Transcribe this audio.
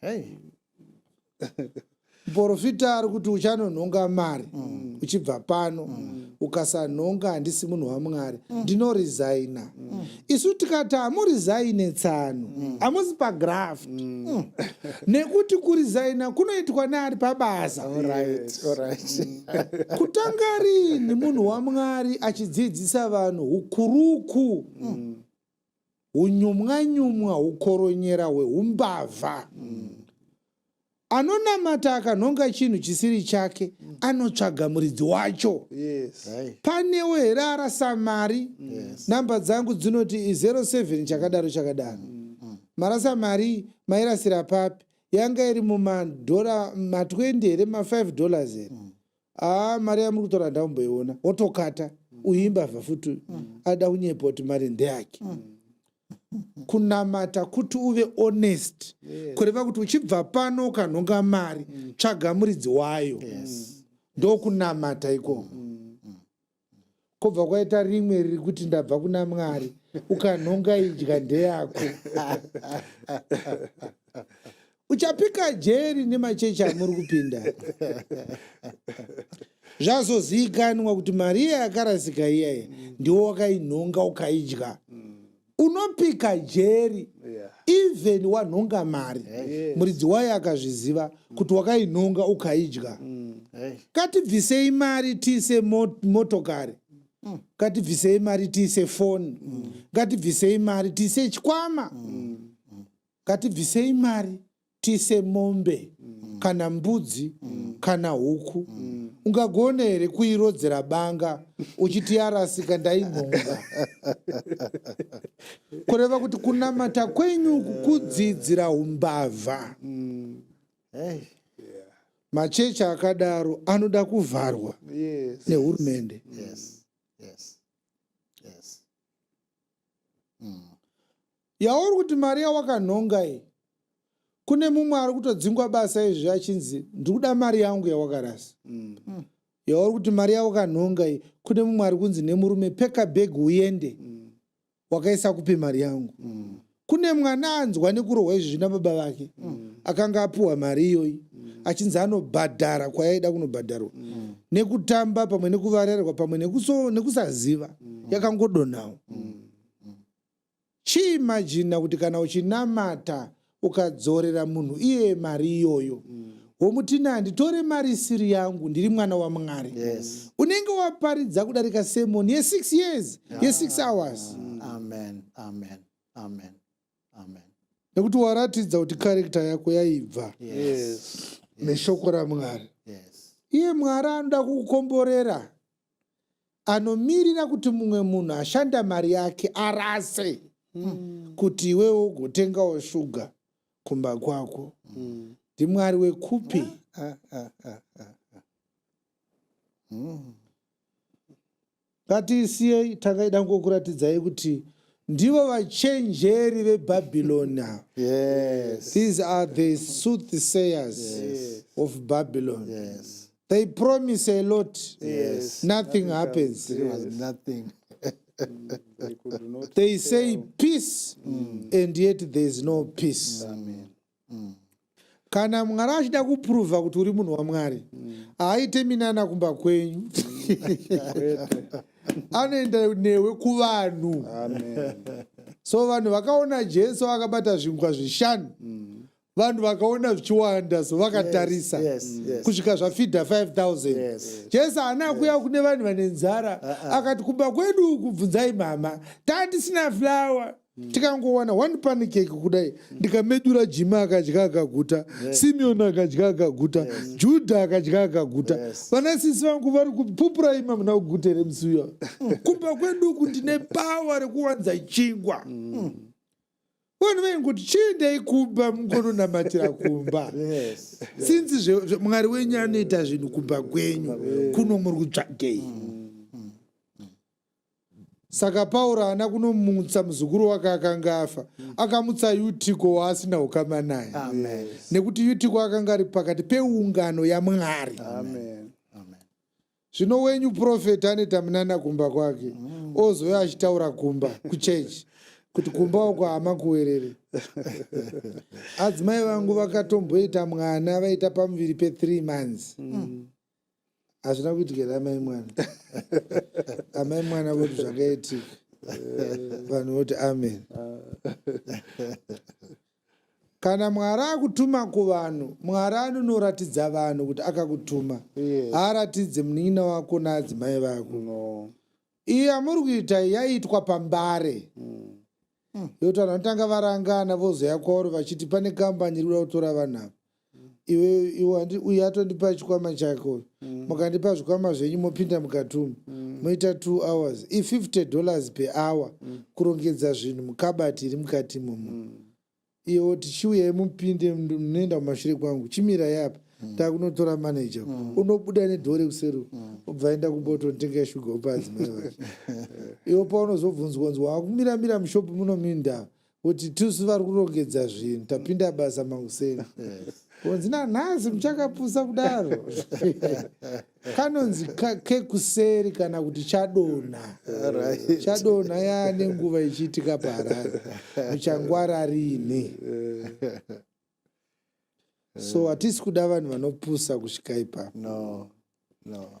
hey. muporofita ari kuti uchanonhonga mari mm. uchibva pano mm. ukasanhonga handisi munhu wamwari mm. ndinoresigna mm. isu tikati hamurisigine tsano mm. hamusi mm. pagraft mm. mm. nekuti kuresigna kunoitwa neari pabasa yes. right. mm. kutanga rini munhu wamwari achidzidzisa vanhu ukuruku mm. hunyumwanyumwa hukoronyera hwehumbavha mm. anonamata akanhonga chinhu chisiri chake mm. anotsvaga muridzi wacho yes. hey. panewo here arasa mari yes. namba dzangu dzinoti 07 chakadaro chakadaro mm. mm. marasa mari mairasira papi yanga iri mumadhora ma20 here ma5 dollars here mm. haa mari yamuri kutora handamboiona wotokata uyu imbavha futi uyu ada kunyepa kuti mari ndeyake kunamata kuti uve honest kureva kuti uchibva pano ukanhonga mari tsvaga muridzi wayo ndokunamata ikoko kobva kwaita rimwe riri kuti ndabva kuna mwari ukanhonga idya ndeyako uchapika jeri nemachechi amuri kupinda zvazozivikanwa kuti mari iya yakarasika iyaye ndiwo wakainhonga ukaidya unopika jeri even wanhonga mari muridzi wayo akazviziva kuti wakainhonga ukaidya mm. katibvisei mari tiise motokari mm. katibvisei mari tiise foni mm. katibvisei mari tiise chikwama katibvisei mari tise mombe mm. kana mbudzi mm. kana huku mm. ungagona here kuirodzera banga uchiti yarasika ndaimhonga kureva kuti kunamata kwenyu kukudzidzira umbavha mm. hey. machechi akadaro anoda kuvharwa yes. nehurumende yes. yes. yes. mm. Yauri kuti mari yawakanhonga iyi kune mumwe ari kutodzingwa basa izvi achinzi ndiri kuda mari yangu yawakarasa mm. mm. yauri kuti mari yawakanhonga iyi kune mumwe ari kunzi nemurume peka bheg uende mm. wakaisa kupi mari yangu mm. kune mwana anzwa nekurohwa izvi zvina baba vake mm. akanga apiwa mari iyoyi mm. achinzi anobhadhara kwayaida kunobhadharwa mm. nekutamba pamwe nekuvarerwa pamwe nekusaziva mm. yakangodonhawo mm. mm. chiimajina kuti kana uchinamata ukadzorera munhu iye mari iyoyo mm. womutina handitore mari isiri yangu ndiri mwana wamwari yes. unenge waparidza kudarika semoni yesix years yeah. yesix hours mm. amen amen amen amen nekuti waratidza kuti karekta yako yaibva yes. yes. neshoko ramwari yes. iye mwari anoda kukukomborera anomirira kuti mumwe munhu ashanda mari yake arase mm. kuti iwewo ugotengawo shuga kumba kwako mm. ndimwari wekupi ah, ah, ah, ah, ah. mm. ngatiisiyei tangaida ngokuratidzai kuti ndivo vachenjeri vebhabhiloni ava yes. these are the soothsayers yes. of babylon yes. they promise a lot yes. nothing, nothing happens comes, yes. was nothing mm, they, they say out. peace mm. and yet there is no peace Amen. Mm. kana mwari achida kupruvha kuti uri munhu wamwari mm. haaite minana kumba kwenyu anoenda newe kuvanhu so vanhu vakaona jesu akabata zvingwa zvishanu mm. vanhu vakaona zvichiwanda so vakatarisa yes, yes, mm. yes. kusvika zvafidha 5000 yes. jesu haana kuya yes. kune vanhu vane nzara uh -uh. akati kumba kwedu uku bvunzai mama taa tisina flawa mm. tikangowana one panikeki kudai mm. ndikamedura jima akadya akaguta yes. simeoni akadya akaguta yes. judha akadya akaguta vana yes. sisi vangu vari kupupura ima muna kugute remusi uyo kumba kwedu uku ndine pawa rekuwanza chingwa mm. Mm. vanhu vaingoti chiendai kumba mukononamatira kumba since mwari wenyu anoita zvinhu kumba kwenyu kuno muri kutsvagei mm, mm, mm. saka pauro haana kunomutsa muzukuru wake akanga afa akamutsa yutiko waasina ukama naye nekuti yutiko akanga ari pakati peungano yamwari Amen. zvino wenyu profet anoita munana kumba kwake mm. ozouya achitaura kumba kuchechi kuti kumba uko hama kuwerere adzimai vangu vakatomboita mwana vaita pamuviri pethree months mm. hazvina mm. kuitikera amai mwana amai mwana voti zvakaitika vanhu voti amen Kana Mwari akutuma kuvanhu, Mwari anonoratidza vanhu kuti akakutuma. Yes. Haaratidze munin'ina wako naadzimai vako. No. Iyi amuri kuita yaiitwa pambare. Mm. Mm. Yokuti vanhu vanotanga varangana vozoya kwauri vachiti pane kambani iri kuda kutora vanhu ava. uyu atondipa chikwama chake uyu mm. mukandipa zvikwama zvenyu mopinda mukatumu mm. moita two hours i50 dollars per hour mm. kurongedza zvinhu mukabati iri mukati imomo iwo tichiuyai mupinde munoenda mumashure kwangu chimirai apa takunotora manager unobuda nedhore kuseru ubva enda kumbototenga shuga upa adzimai vacho iwo paunozobvunzwa nzwa wakumiramira mushopu munominda kuti tusu vari kurongedza zvinhu tapinda basa makuseni kunzi nanhasi muchakapusa kudaro kanonzi kekuseri kana kuti chadonha chadonha yaane nguva ichiitika paharari muchangwara riini so hatisi kuda vanhu vanopusa kusvika ipapo no, no.